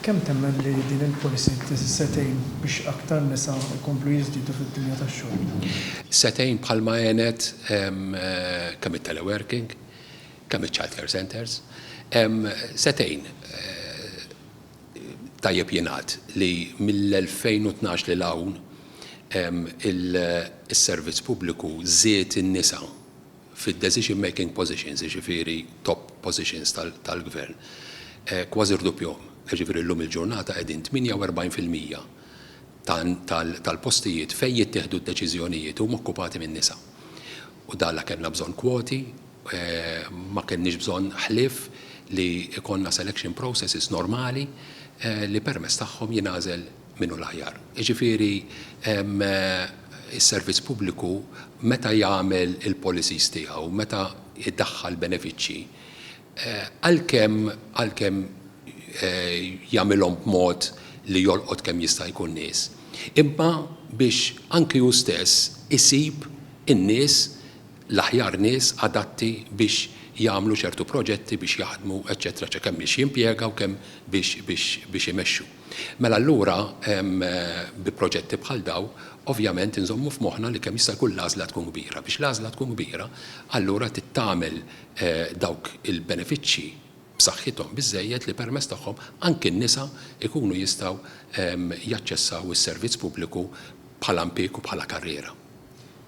Kemm temmen li din il-policy se tgħin biex aktar nisa jkomplu jiżdiedu fid-dinja tax-xogħol? Se tgħin bħalma għenet kemm it-teleworking, kemm iċ-child care centres. Se tgħin, tajjeb jingħad, li mill-2012 lil hawn is-servizz pubbliku żied in-nisa fid-decision making positions, jiġifieri top positions tal-gvern, kważi rdupjhom. Jiġifieri llum il-ġurnata qegħdin 48 fil-mija tal-postijiet fejn jittieħdu d-deċiżjonijiet huma okkupati minn nisa. U dan la kellna bżonn kwoti, ma kellniex bżonn ħlief li jkollna selection processes normali li permezz tagħhom jingħażel min hu l-aħjar. Jiġifieri s-servizz pubbliku meta jagħmel il-policies tiegħu, meta jdaħħal benefiċċji, għalkemm għalkemm jagħmilhom b'mod li jolqot kemm jista' jkun nies, imma biex anki hu stess isib in-nies, l-aħjar nies adatti biex jagħmlu ċertu proġetti, biex jaħdmu, eċċetera, eċċetera, kemm biex jimpjega u kemm biex biex biex imexxu. Mela allura bi proġetti bħal dawn ovvjament inżommu f'moħħna li kemm jista' jkun l-għażla tkun kbira. Biex l-għażla tkun kbira allura trid tagħmel dawk il-benefiċċji b'saħħithom biżżejjed li permezz tagħhom anki n-nisa jkunu jistgħu jaċċessaw is-servizz pubbliku bħala mpieg u bħala karriera.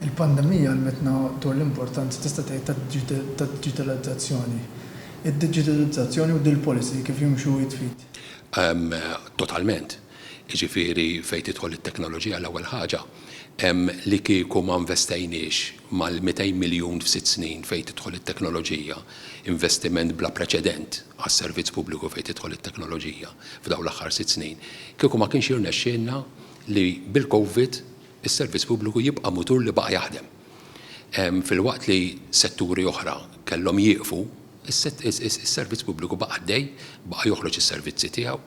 Il-pandemija għallmitna dwar l-importanza tista' tgħid tad-diġitalizzazzjoni. Id-diġitalizzazzjoni u dil-policy kif jimxu id f'id? Totalment. Jiġifieri fejn tidħol it-teknoloġija l-ewwel ħaġa, li kieku ma nvestejniex mal-200 miljun f'sitt snin fejn tidħol it-teknoloġija, investiment bla preċedent għas-servizz pubbliku fejn tidħol it-teknoloġija f'dawn l-aħħar sitt snin, kieku ma kienx jirnexxielna li bil-COVID Is-servizz pubbliku jibqa' mutur li baqa' jaħdem. Filwaqt li setturi oħra kellhom jieqfu, is-servizz pubbliku baqa' għaddej, baqa' joħroġ is-servizzi tiegħu,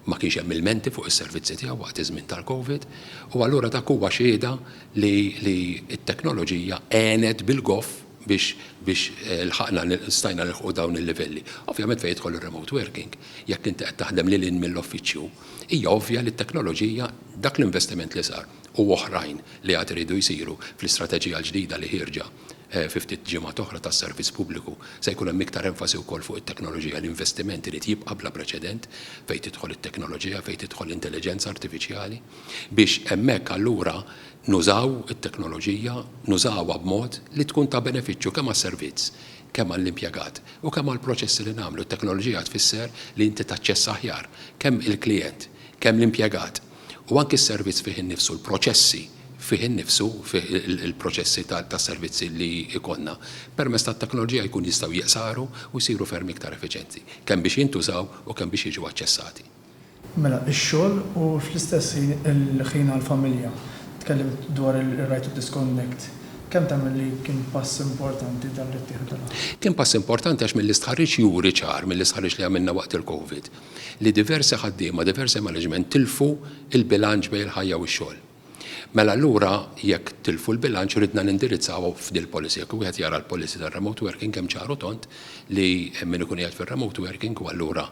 ma kienx hemm ilmenti fuq is-servizzi tiegħu waqt iż-żmien tal-Covid, u allura dak huwa xhieda li t-teknoloġija għenet bil-goff biex lħaqna, stajna nilħqu dawn il-livelli. Ovvjament fejn jidħol ir-remote working, jekk inti qed taħdem lil hinn mill-uffiċċju, hija ovvja li t-teknoloġija, Dak l-investiment li sar u oħrajn li għad iridu jsiru fl-istrateġija l-ġdida li ħierġa fi ftit ġimgħat oħra tas-Servizz Pubbliku se jkun hemm iktar enfasi wkoll fuq it-teknoloġija. L-investiment irid jibqa' bla preċedent fejn tidħol it-teknoloġija, fejn tidħol l-intelliġenza artifiċjali biex hemmhekk allura nużaw it-teknoloġija, nużawha b'mod li tkun ta' benefiċċju kemm għas-servizz, kemm għall-impjegat u kemm għall-proċessi li nagħmlu. It-teknoloġija tfisser li inti taċċessa aħjar kemm il-klijent Kemm l-impjegat u anki s-servizz fih innifsu, l-proċessi fih innifsu, fih il-proċessi tas-servizzi li jkollna, permezz tat-teknoloġija jkun jistgħu jiqsaru u jsiru ferm iktar effiċjenti, kemm biex jintużaw u kemm biex jiġu aċċessati. Mela, ix-xogħol u fl-istess ħin il-ħin għall-familja. Tkellimt dwar ir-right to disconnect. Kemm temmen li kien pass importanti dan li ttieħed dal-aħħar? Kien pass importanti għax mill-istħarriġ juri ċar, mill-istħarriġ li għamilna waqt il-COVID, li diversi ħaddiema, diversi management tilfu l-bilanċ bejn il-ħajja u x-xogħol. Mela allura jekk tilfu l-bilanċ ridna nindirizzawha f'dil-policy. Jekk wieħed jara l-policy tar-remote working hemm ċar u tond li min ikun qiegħed fir-remote working u allura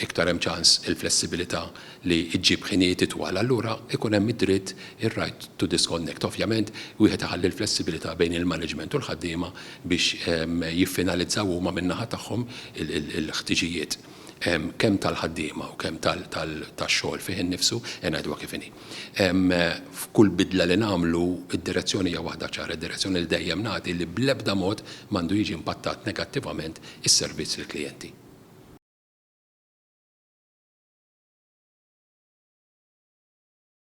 iktar hemm ċans il-flessibilità li ġġib ħinijiet itwal allura ikun hemm id-dritt, ir-right to disconnect. Ovvjament wieħed iħalli l-flessibilità bejn il-management u l-ħaddiema biex jiffinalizzaw huma min-naħa tagħhom il-ħtiġijiet. kemm tal-ħaddiema u kemm tax-xogħol fih innifsu, ngħiduha kif inhi. F'kull bidla li nagħmlu, id-direzzjoni hija waħda ċara, id-direzzjoni li dejjem nagħti li bl-ebda mod m'għandu jiġi impattat negattivament is-servizz lill-klijenti.